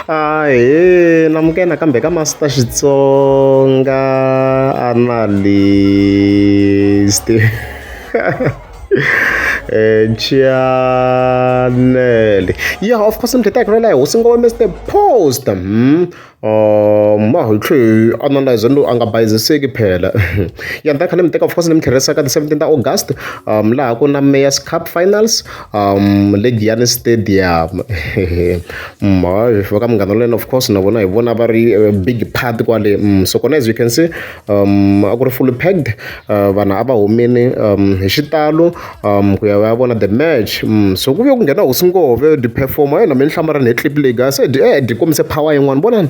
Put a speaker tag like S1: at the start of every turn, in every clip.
S1: ahee namukela nakambe ka master xitsonga analyst Eh, chanele yeah of course mdleta kurela hosi ngo wa mr post hmm? um ma hi tlhe analyze no a nga bayiziseki phela ya nda khale mi teka of course ni mi tlherisaka the 17 ta august um laha ku na mayors cup finals um le giyani stadium va ka munghana wa wena of course na vona hi vona va ri eh, big part kwale mm, so kona as you can see um a ku ri fully packed uh, vanhu a va humini um hi xitalo um ku ya va ya vona the match mm, so ku ve ku nghena hosingove di-performa yona mi ni hlamarani hi clip leyi ga se di eh, di kombise power yin'wana vonani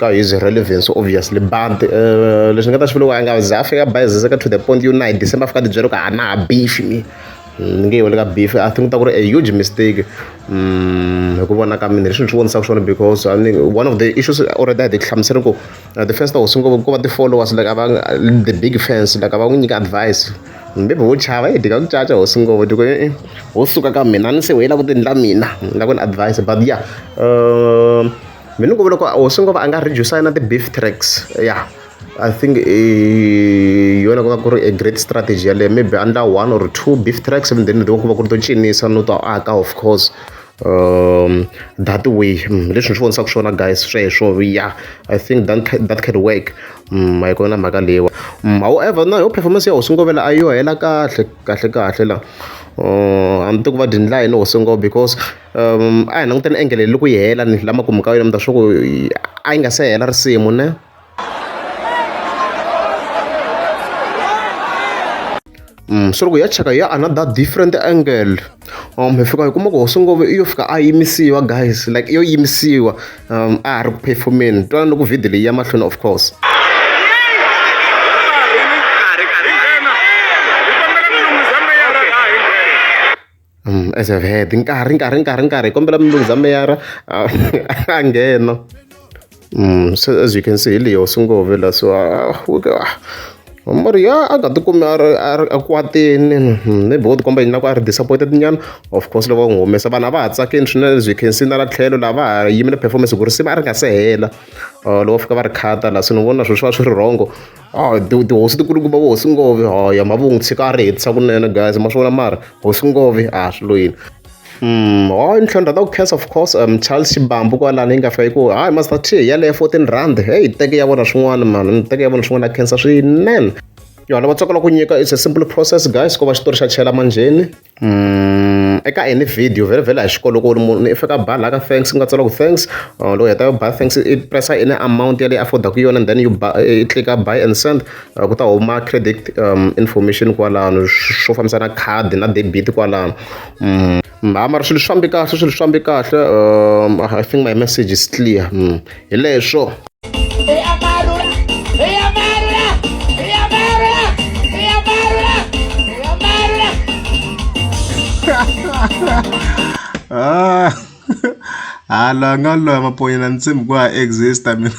S1: ka is relevance obviously but leswi nga ta xivula ku a nga ze a fika bayiziseka to the point yo na hi december a fika a tibyela ku a na ha beef ni ni nge weli ka beef i think u ta ku ri a huge mistake hi ku vona ka mina hi swilo swi vonisaka swona because a ni one of the issues already a hi ti hlamusela ku the first hosi ngo ko va ti-followers like a va the big fans like a va n'wi nyika advise. Ni vo chava yi dyi ka ku caca hosi ngopfu ni ku e-e ho suka ka mina a ni se we yi lava ku ti endla mina ni lava ku ni advise but ya me ni ku loko hosi ngo va a nga reduce-a na ti-beef tracks ya I think i yona ku va ku ri a great strategy yeleyo maybe a endla one or two beef tracks and then ku va ku ri to cinisa no to aka of course. um that way hmm, leswi ni swi vonisaka swona guys sweswo ya i think that, that can work um hi kona mhaka leyiwa hmm, however na yo performance ya hosingovela a yo hela kahle kahle kahle la uh, a ni ti ku va dindla yini hosingo because um a hi languteni engele loko yi hela ni lama kumeka yona mi ta swa ku a yi nga se hela risimu ne Mm, so loko ya cheka ya another different angle um hi fika hi kuma ku hosongove iyo fika a yimisiwa guys like iyo yimisiwa um a ha ri ku performeni twana loko video leyi ya mahlweni of course as I've heard nkarhi nkarhi nkarhi nkarhi hi kombela mulunghiza meyara a nghena mm, so as you can see hi leyo swi ngove la so ah, ah, mari ya a nga tikumi a ri a kwatini hmm, maybe wo tikomba yini na ku a ri disappointed nyana of course loko va n'wi humesa vanhu a va ha tsakini swinene as you can see na la tlhelo laha va ha yimile performance ku ri siva a ri nga se hela ah, loko fika va ri khata la so ni vona swilo swi va swi ri wrongo a ti- tihosi ti kulukumba vo hosi ngove haya mavungu tshika a ri hetisa kunene guys ma swi vona mara hosi ngove a swi lo yini Mm, hayi ni tlhandla ta ku khensa of course um, charles xibambu kwalani yi nga fika yi ku hayi master t yaleyo 14 rand heyi teke ya vona swin'wana mani ni teke ya vona swin'wana ya khensa swinene yona va tsakela ku nyika it's a simple process guys ko va xitori xa chela manjheni eka any video vhela-vhela hi xikolo loko u ri munhu i fika a ba la ka thanks ku nga tsariwa ku thanks loko u heta u ba thanks i press-a any amount ya leyi afford-aku yona then u ba i tlilika buy and send ku ta huma credit information kwalano swo fambisa na khadi na debit kwalano mara swilo swi fambe kahle swilo swi fambe kahle I think my message is clear. hi leswo ah hala nga loya maponyela ni tshembi ku ha exista mina